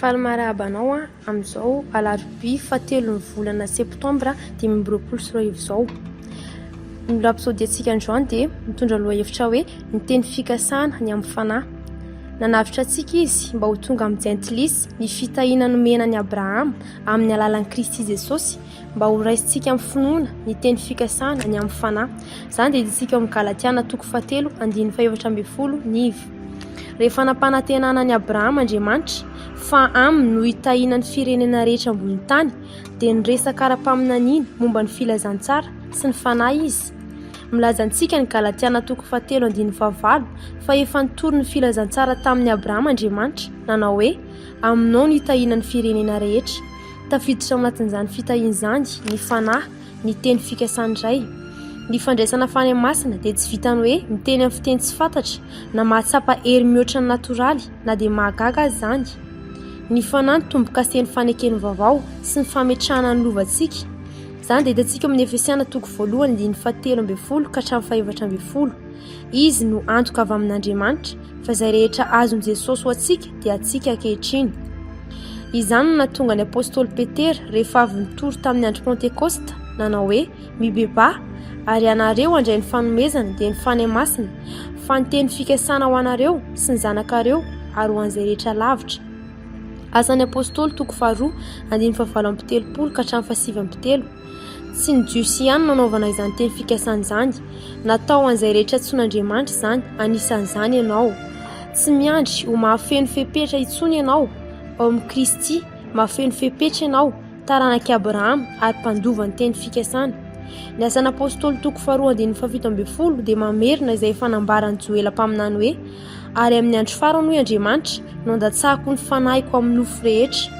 Faly marahaba anao amin'izao alarobia fahatelon'ny volana septambra dimy amby roapolo sy roa arivo izao. Ny rapsodiantsika androany dia mitondra lohahevitra hoe ny teny fikasana ny amin'ny fanahy. Nanavotra antsika izy mba ho tonga amin'ny jentilisa ny fitahiana nomena an'i Abrahama amin'ny alalan'i Kristy Jesosy Mba ho raisintsika amin'ny finoana ny teny fikasana ny amin'ny fanahy. Izany dia ditintsika ao amin'ny Galatiana toko fahatelo andininy fahefatra ambin'ny folo niv. Rehefa nampanantenana ny Abrahama Andriamanitra fa aminy no hitahiana ny firenena rehetra ambony tany dia niresaka ara-paminaniana momba ny filazantsara sy ny fanahy izy. Milaza antsika ny Galatiana toko fahatelo andininy fahavalo fa efa nitory ny filazantsara tamin'ny Abrahama Andriamanitra nanao hoe aminao no hitahiana ny firenena rehetra. Tafiditra ao anatin'izany fitahiana izany ny Fanahy, ny teny fikasan'ny Ray. Ny fandraisana fanahy masina dia tsy vitan'ny hoe miteny amin'ny fiteny tsy fantatra, na mahatsapa hery mihoatra ny natoraly, na dia mahagaga aza izany. Ny Fanahy no tombo-kasen'ny fanekeny vaovao sy ny fametrahana ny lovantsika. Izany dia hitantsika ao amin'ny Efesiana toko voalohany, andininy fahatelo ambin'ny folo ka hatramin'ny fahefatra ambin'ny folo. Izy no antoka avy amin'Andriamanitra fa izay rehetra azon'i Jesosy ho antsika dia antsika ankehitriny. Izany no nahatonga ny apostoly Petera rehefa avy nitory tamin'ny andro Pentekosta nanao hoe mibebaha ary ianareo handray ny fanomezana dia ny Fanahy Masina fa ny teny fikasana ho anareo sy ny zanakareo ary ho an'izay rehetra lavitra. Asan'ny apostoly toko faharoa andininy fahavalam-pitelopolo ka hatramin'ny fahasivambitelo. Tsy ny Jiosy ihany no anaovana izany teny fikasana izany. Natao ho an'izay rehetra antsoin'Andriamanitra izany, anisan'izany ianao. Tsy miandry ho mahafeno fepetra intsony ianao ao amin'i Kristy, mahafeno fepetra ianao, taranak'i Abrahama ary mpandova ny teny fikasana. Ny asan'Apôstôly toko faharoa andininy fahafito ambin'ny folo dia mamerina izay efa nambaran'i Joela mpaminany hoe, ary amin'ny andro farany, hoy Andriamanitra, no handatsahako ny fanahiko amin'ny nofo rehetra.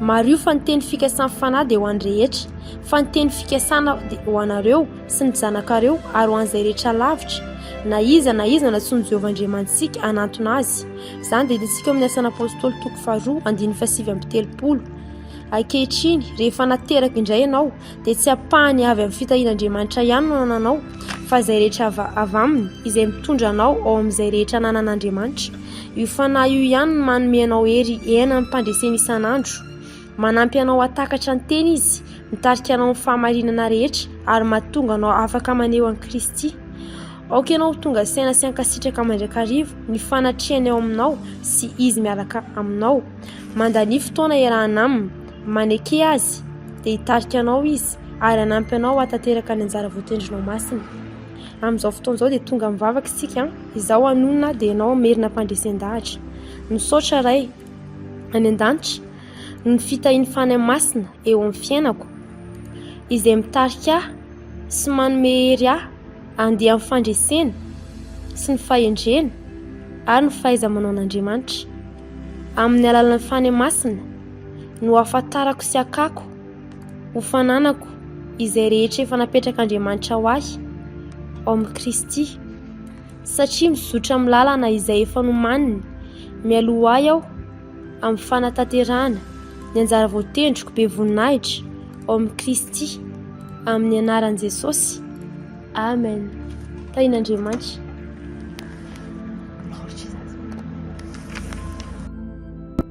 Mariho fa ny teny fikasan'ny fanahy dia ho an'ny rehetra, fa ny teny fikasana dia ho anareo sy ny zanakareo ary ho an'izay rehetra lavitra, na iza na iza nantsoin'i Jehovah Andriamanitsika hanantona azy. Izany dia hitantsika ao amin'ny Asan'ny Apostoly toko faharoa andininy fahasivy amby telopolo. Ankehitriny, rehefa nateraka indray ianao, dia tsy ampahany avy amin'ny fitahian'Andriamanitra ihany no ananao fa izay rehetra avy aminy izay mitondra anao ao amin'izay rehetra ananan'Andriamanitra. Io fanahy io ihany no manome anao hery hiaina ny fandreseny isan'andro. Manampy anao hatakatra ny teny izy, mitarika anao amin'ny fahamarinana rehetra ary mahatonga anao afaka maneho an'i Kristy. Aoka ianao ho tonga saina sy hankasitraka mandrakariva ny fanatrehany ao aminao sy izy miaraka aminao. Mandania fotoana iarahana aminy. Maneke Azy, dia hitarika anao Izy ary hanampy anao hahatanteraka ny anjara voatendrinao masina. Amin'izao fotoana izao dia tonga mivavaka isika, izaho hanonona dia ianao hamerina am-pandresen-dahatra. Misaotra Ray any An-danitra noho ny fitahian'ny Fanahy Masina eo amin'ny fiainako, izay mitarika ahy sy manome hery ahy handeha amin'ny fandresena sy ny fahendrena ary ny fahaiza-manaon'Andriamanitra. Amin'ny alalan'ny Fanahy Masina, no hahafantarako sy hakako ho fananako izay rehetra efa napetrak'Andriamanitra ho ahy ao amin'i Kristy, satria mizotra amin'ny lalana izay efa nomaniny mialoha ahy aho amin'ny fanatanterahana ny anjara voatendriko be voninahitra ao amin'i Kristy amin'ny anaran'i Jesosy. Amen. Tahin'Andriamanitra.